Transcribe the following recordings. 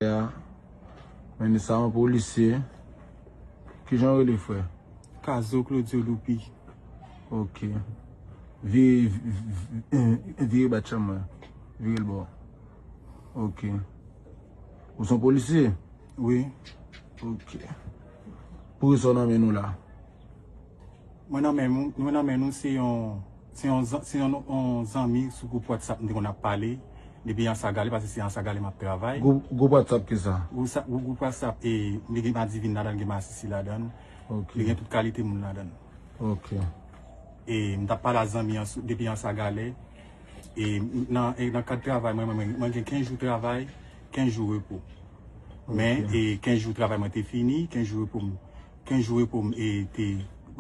Frè a mennen sa yon polisye kijan ou rele frè? Kazo Claudio Loupy. Ok vire bat chanm mwen virel bò ok ou son polisye wi ok pou kisa ou nan men nou la. Mwen nan men nou, mwen nan men nou se yon se yon se yon zanmi sou gwoup whatsapp nou te konn ap pale depi Ansagalè paske se Ansagalè map travay. Gwoup whatsapp ki sa? Gwoup whatsapp e li gen madivin ladan l gen masisi ladan l li gen tout kalite moun ladan l ok e m tap pale a zanmi an depi Ansagalè e nan e nan kad travay mwen mwen mwen gen 15 jou travay 15 jou repo men e 15 jou travay mwen te fini 15 jou repo m Ken jou repo m e te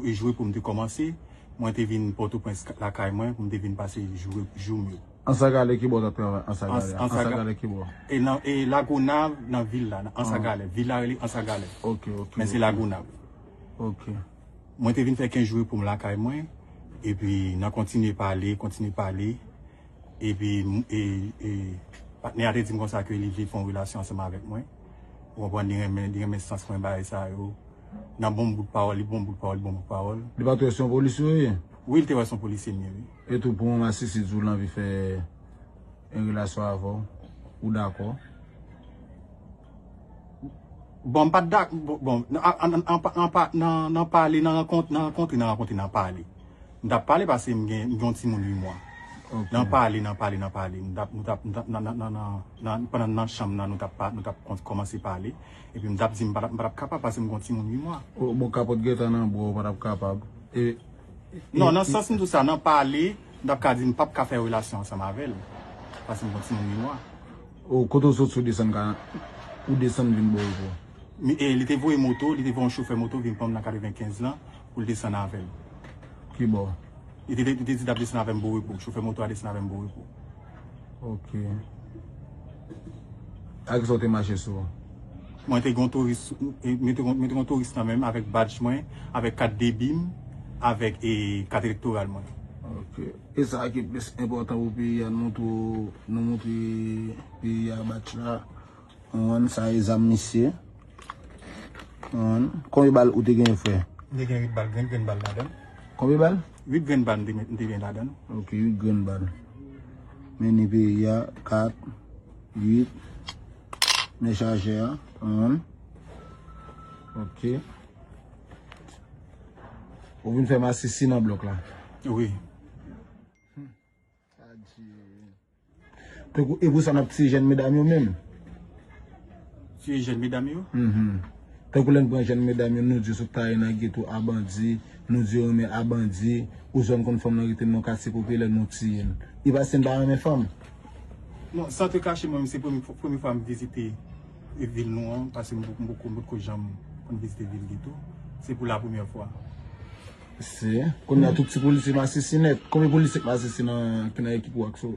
jou repo m te kòmanse, mwen te vin Pòtoprens lakay mwen pou m te vin pase jou repo jou m yo. Ansagalè kibò wap travay ansagalè a ansagalè kibò. E nan e lagonav nan vil la nan ansagalè vil la rele ansagalè ok ok men se lagonav ok mwen te vin fè 15 jou repo m lakay mwen epi nan kontinye pale kontinye pale. epi patnè a te di m konsa ke li vle fè yon relasyon ansanm avèk mwen, ou konprann, li renmen, li renmen sans mwen bay sa yo, nan bon bout pawòl, li bon bout pawòl, li bon bout pawòl. Li pa t wè se yon polisye ou ye? Wi, li te wè se yon polisye m ye, wi. E tou pou yon masisi di w l anvi fè yon relasyon avè w, ou dakò? Bon, m pa t dakò, bon, nan pale, nan rankont, nan rankontre, nan rankontre, nan pale. M tap pale pase m gen yon timoun 8 mwa. Nan pale, nan pale, nan pale. M tap, nou tap, nou tap nan, nan, nan, nan, pandan n nan chanm nan nou tap pa, nou tap kon, kòmanse pale. Epi m tap di m pa tap, m pa tap kapab pase m gen yon timoun 8 mwa. O, bon kapòt gentan nan bra w ou pa tap kapab. E, e, e. Non, nan sans m di w sa, nan pale, m tap ka di m pap ka fè relasyon ansanm avè l. Pase m gen yon timoun 8 mwa. O, kote w sot si w desann ka, ou desann vin bò w pou. li te voye moto, li te voye yon chofè moto vin pran m nan 95 lan pou l desann avè m. Ki bò? Li te di l ap desann avè m Borepo. Chofè moto a desann avè m Borepo. Ok. Ak ki sa ou te mache sou ou? Mwen te gen yon touris, mwen te gen yon touris nan men m avèk badj mwen, avèk kat debi m, avèk kat elektoral mwen. Ok. E sa ki plis enpòtan pou peyi a, nou montre peyi a badj la? One sa e zam misye. One. Konbyen bal ou te gen fre? M te gen 8 bal, 8 grenn bal ladann. Konbyen bal? 8 grenn bal m te gen ladann. Ok 8 grenn bal. Meni peyi a 4, 8. Men chaje a. One. Ok. Ou vin fè masisi nan blok la? Wi. Tankou e pou sa nap tiye jèn medam yo menm. Tiye jèn medam yo? Uhmm. Tankou lè n pran jèn medam yo nou di yo sot taye nan geto a bandi, nou di yo renmen a bandi, ou zòn konn fanm nan rete nan yon katye popilè nou tiye l. E paske n pa renmen fanm? Non, san te kache mwen menm se premye fwa m vizite vil nou an, paske m poko janm vizite vil geto, se pou la premyè fwa. Se, konnya tout ti polisye masisi nèt. Konbyen polisye k masisi nan ki nan ekip ou ak sou?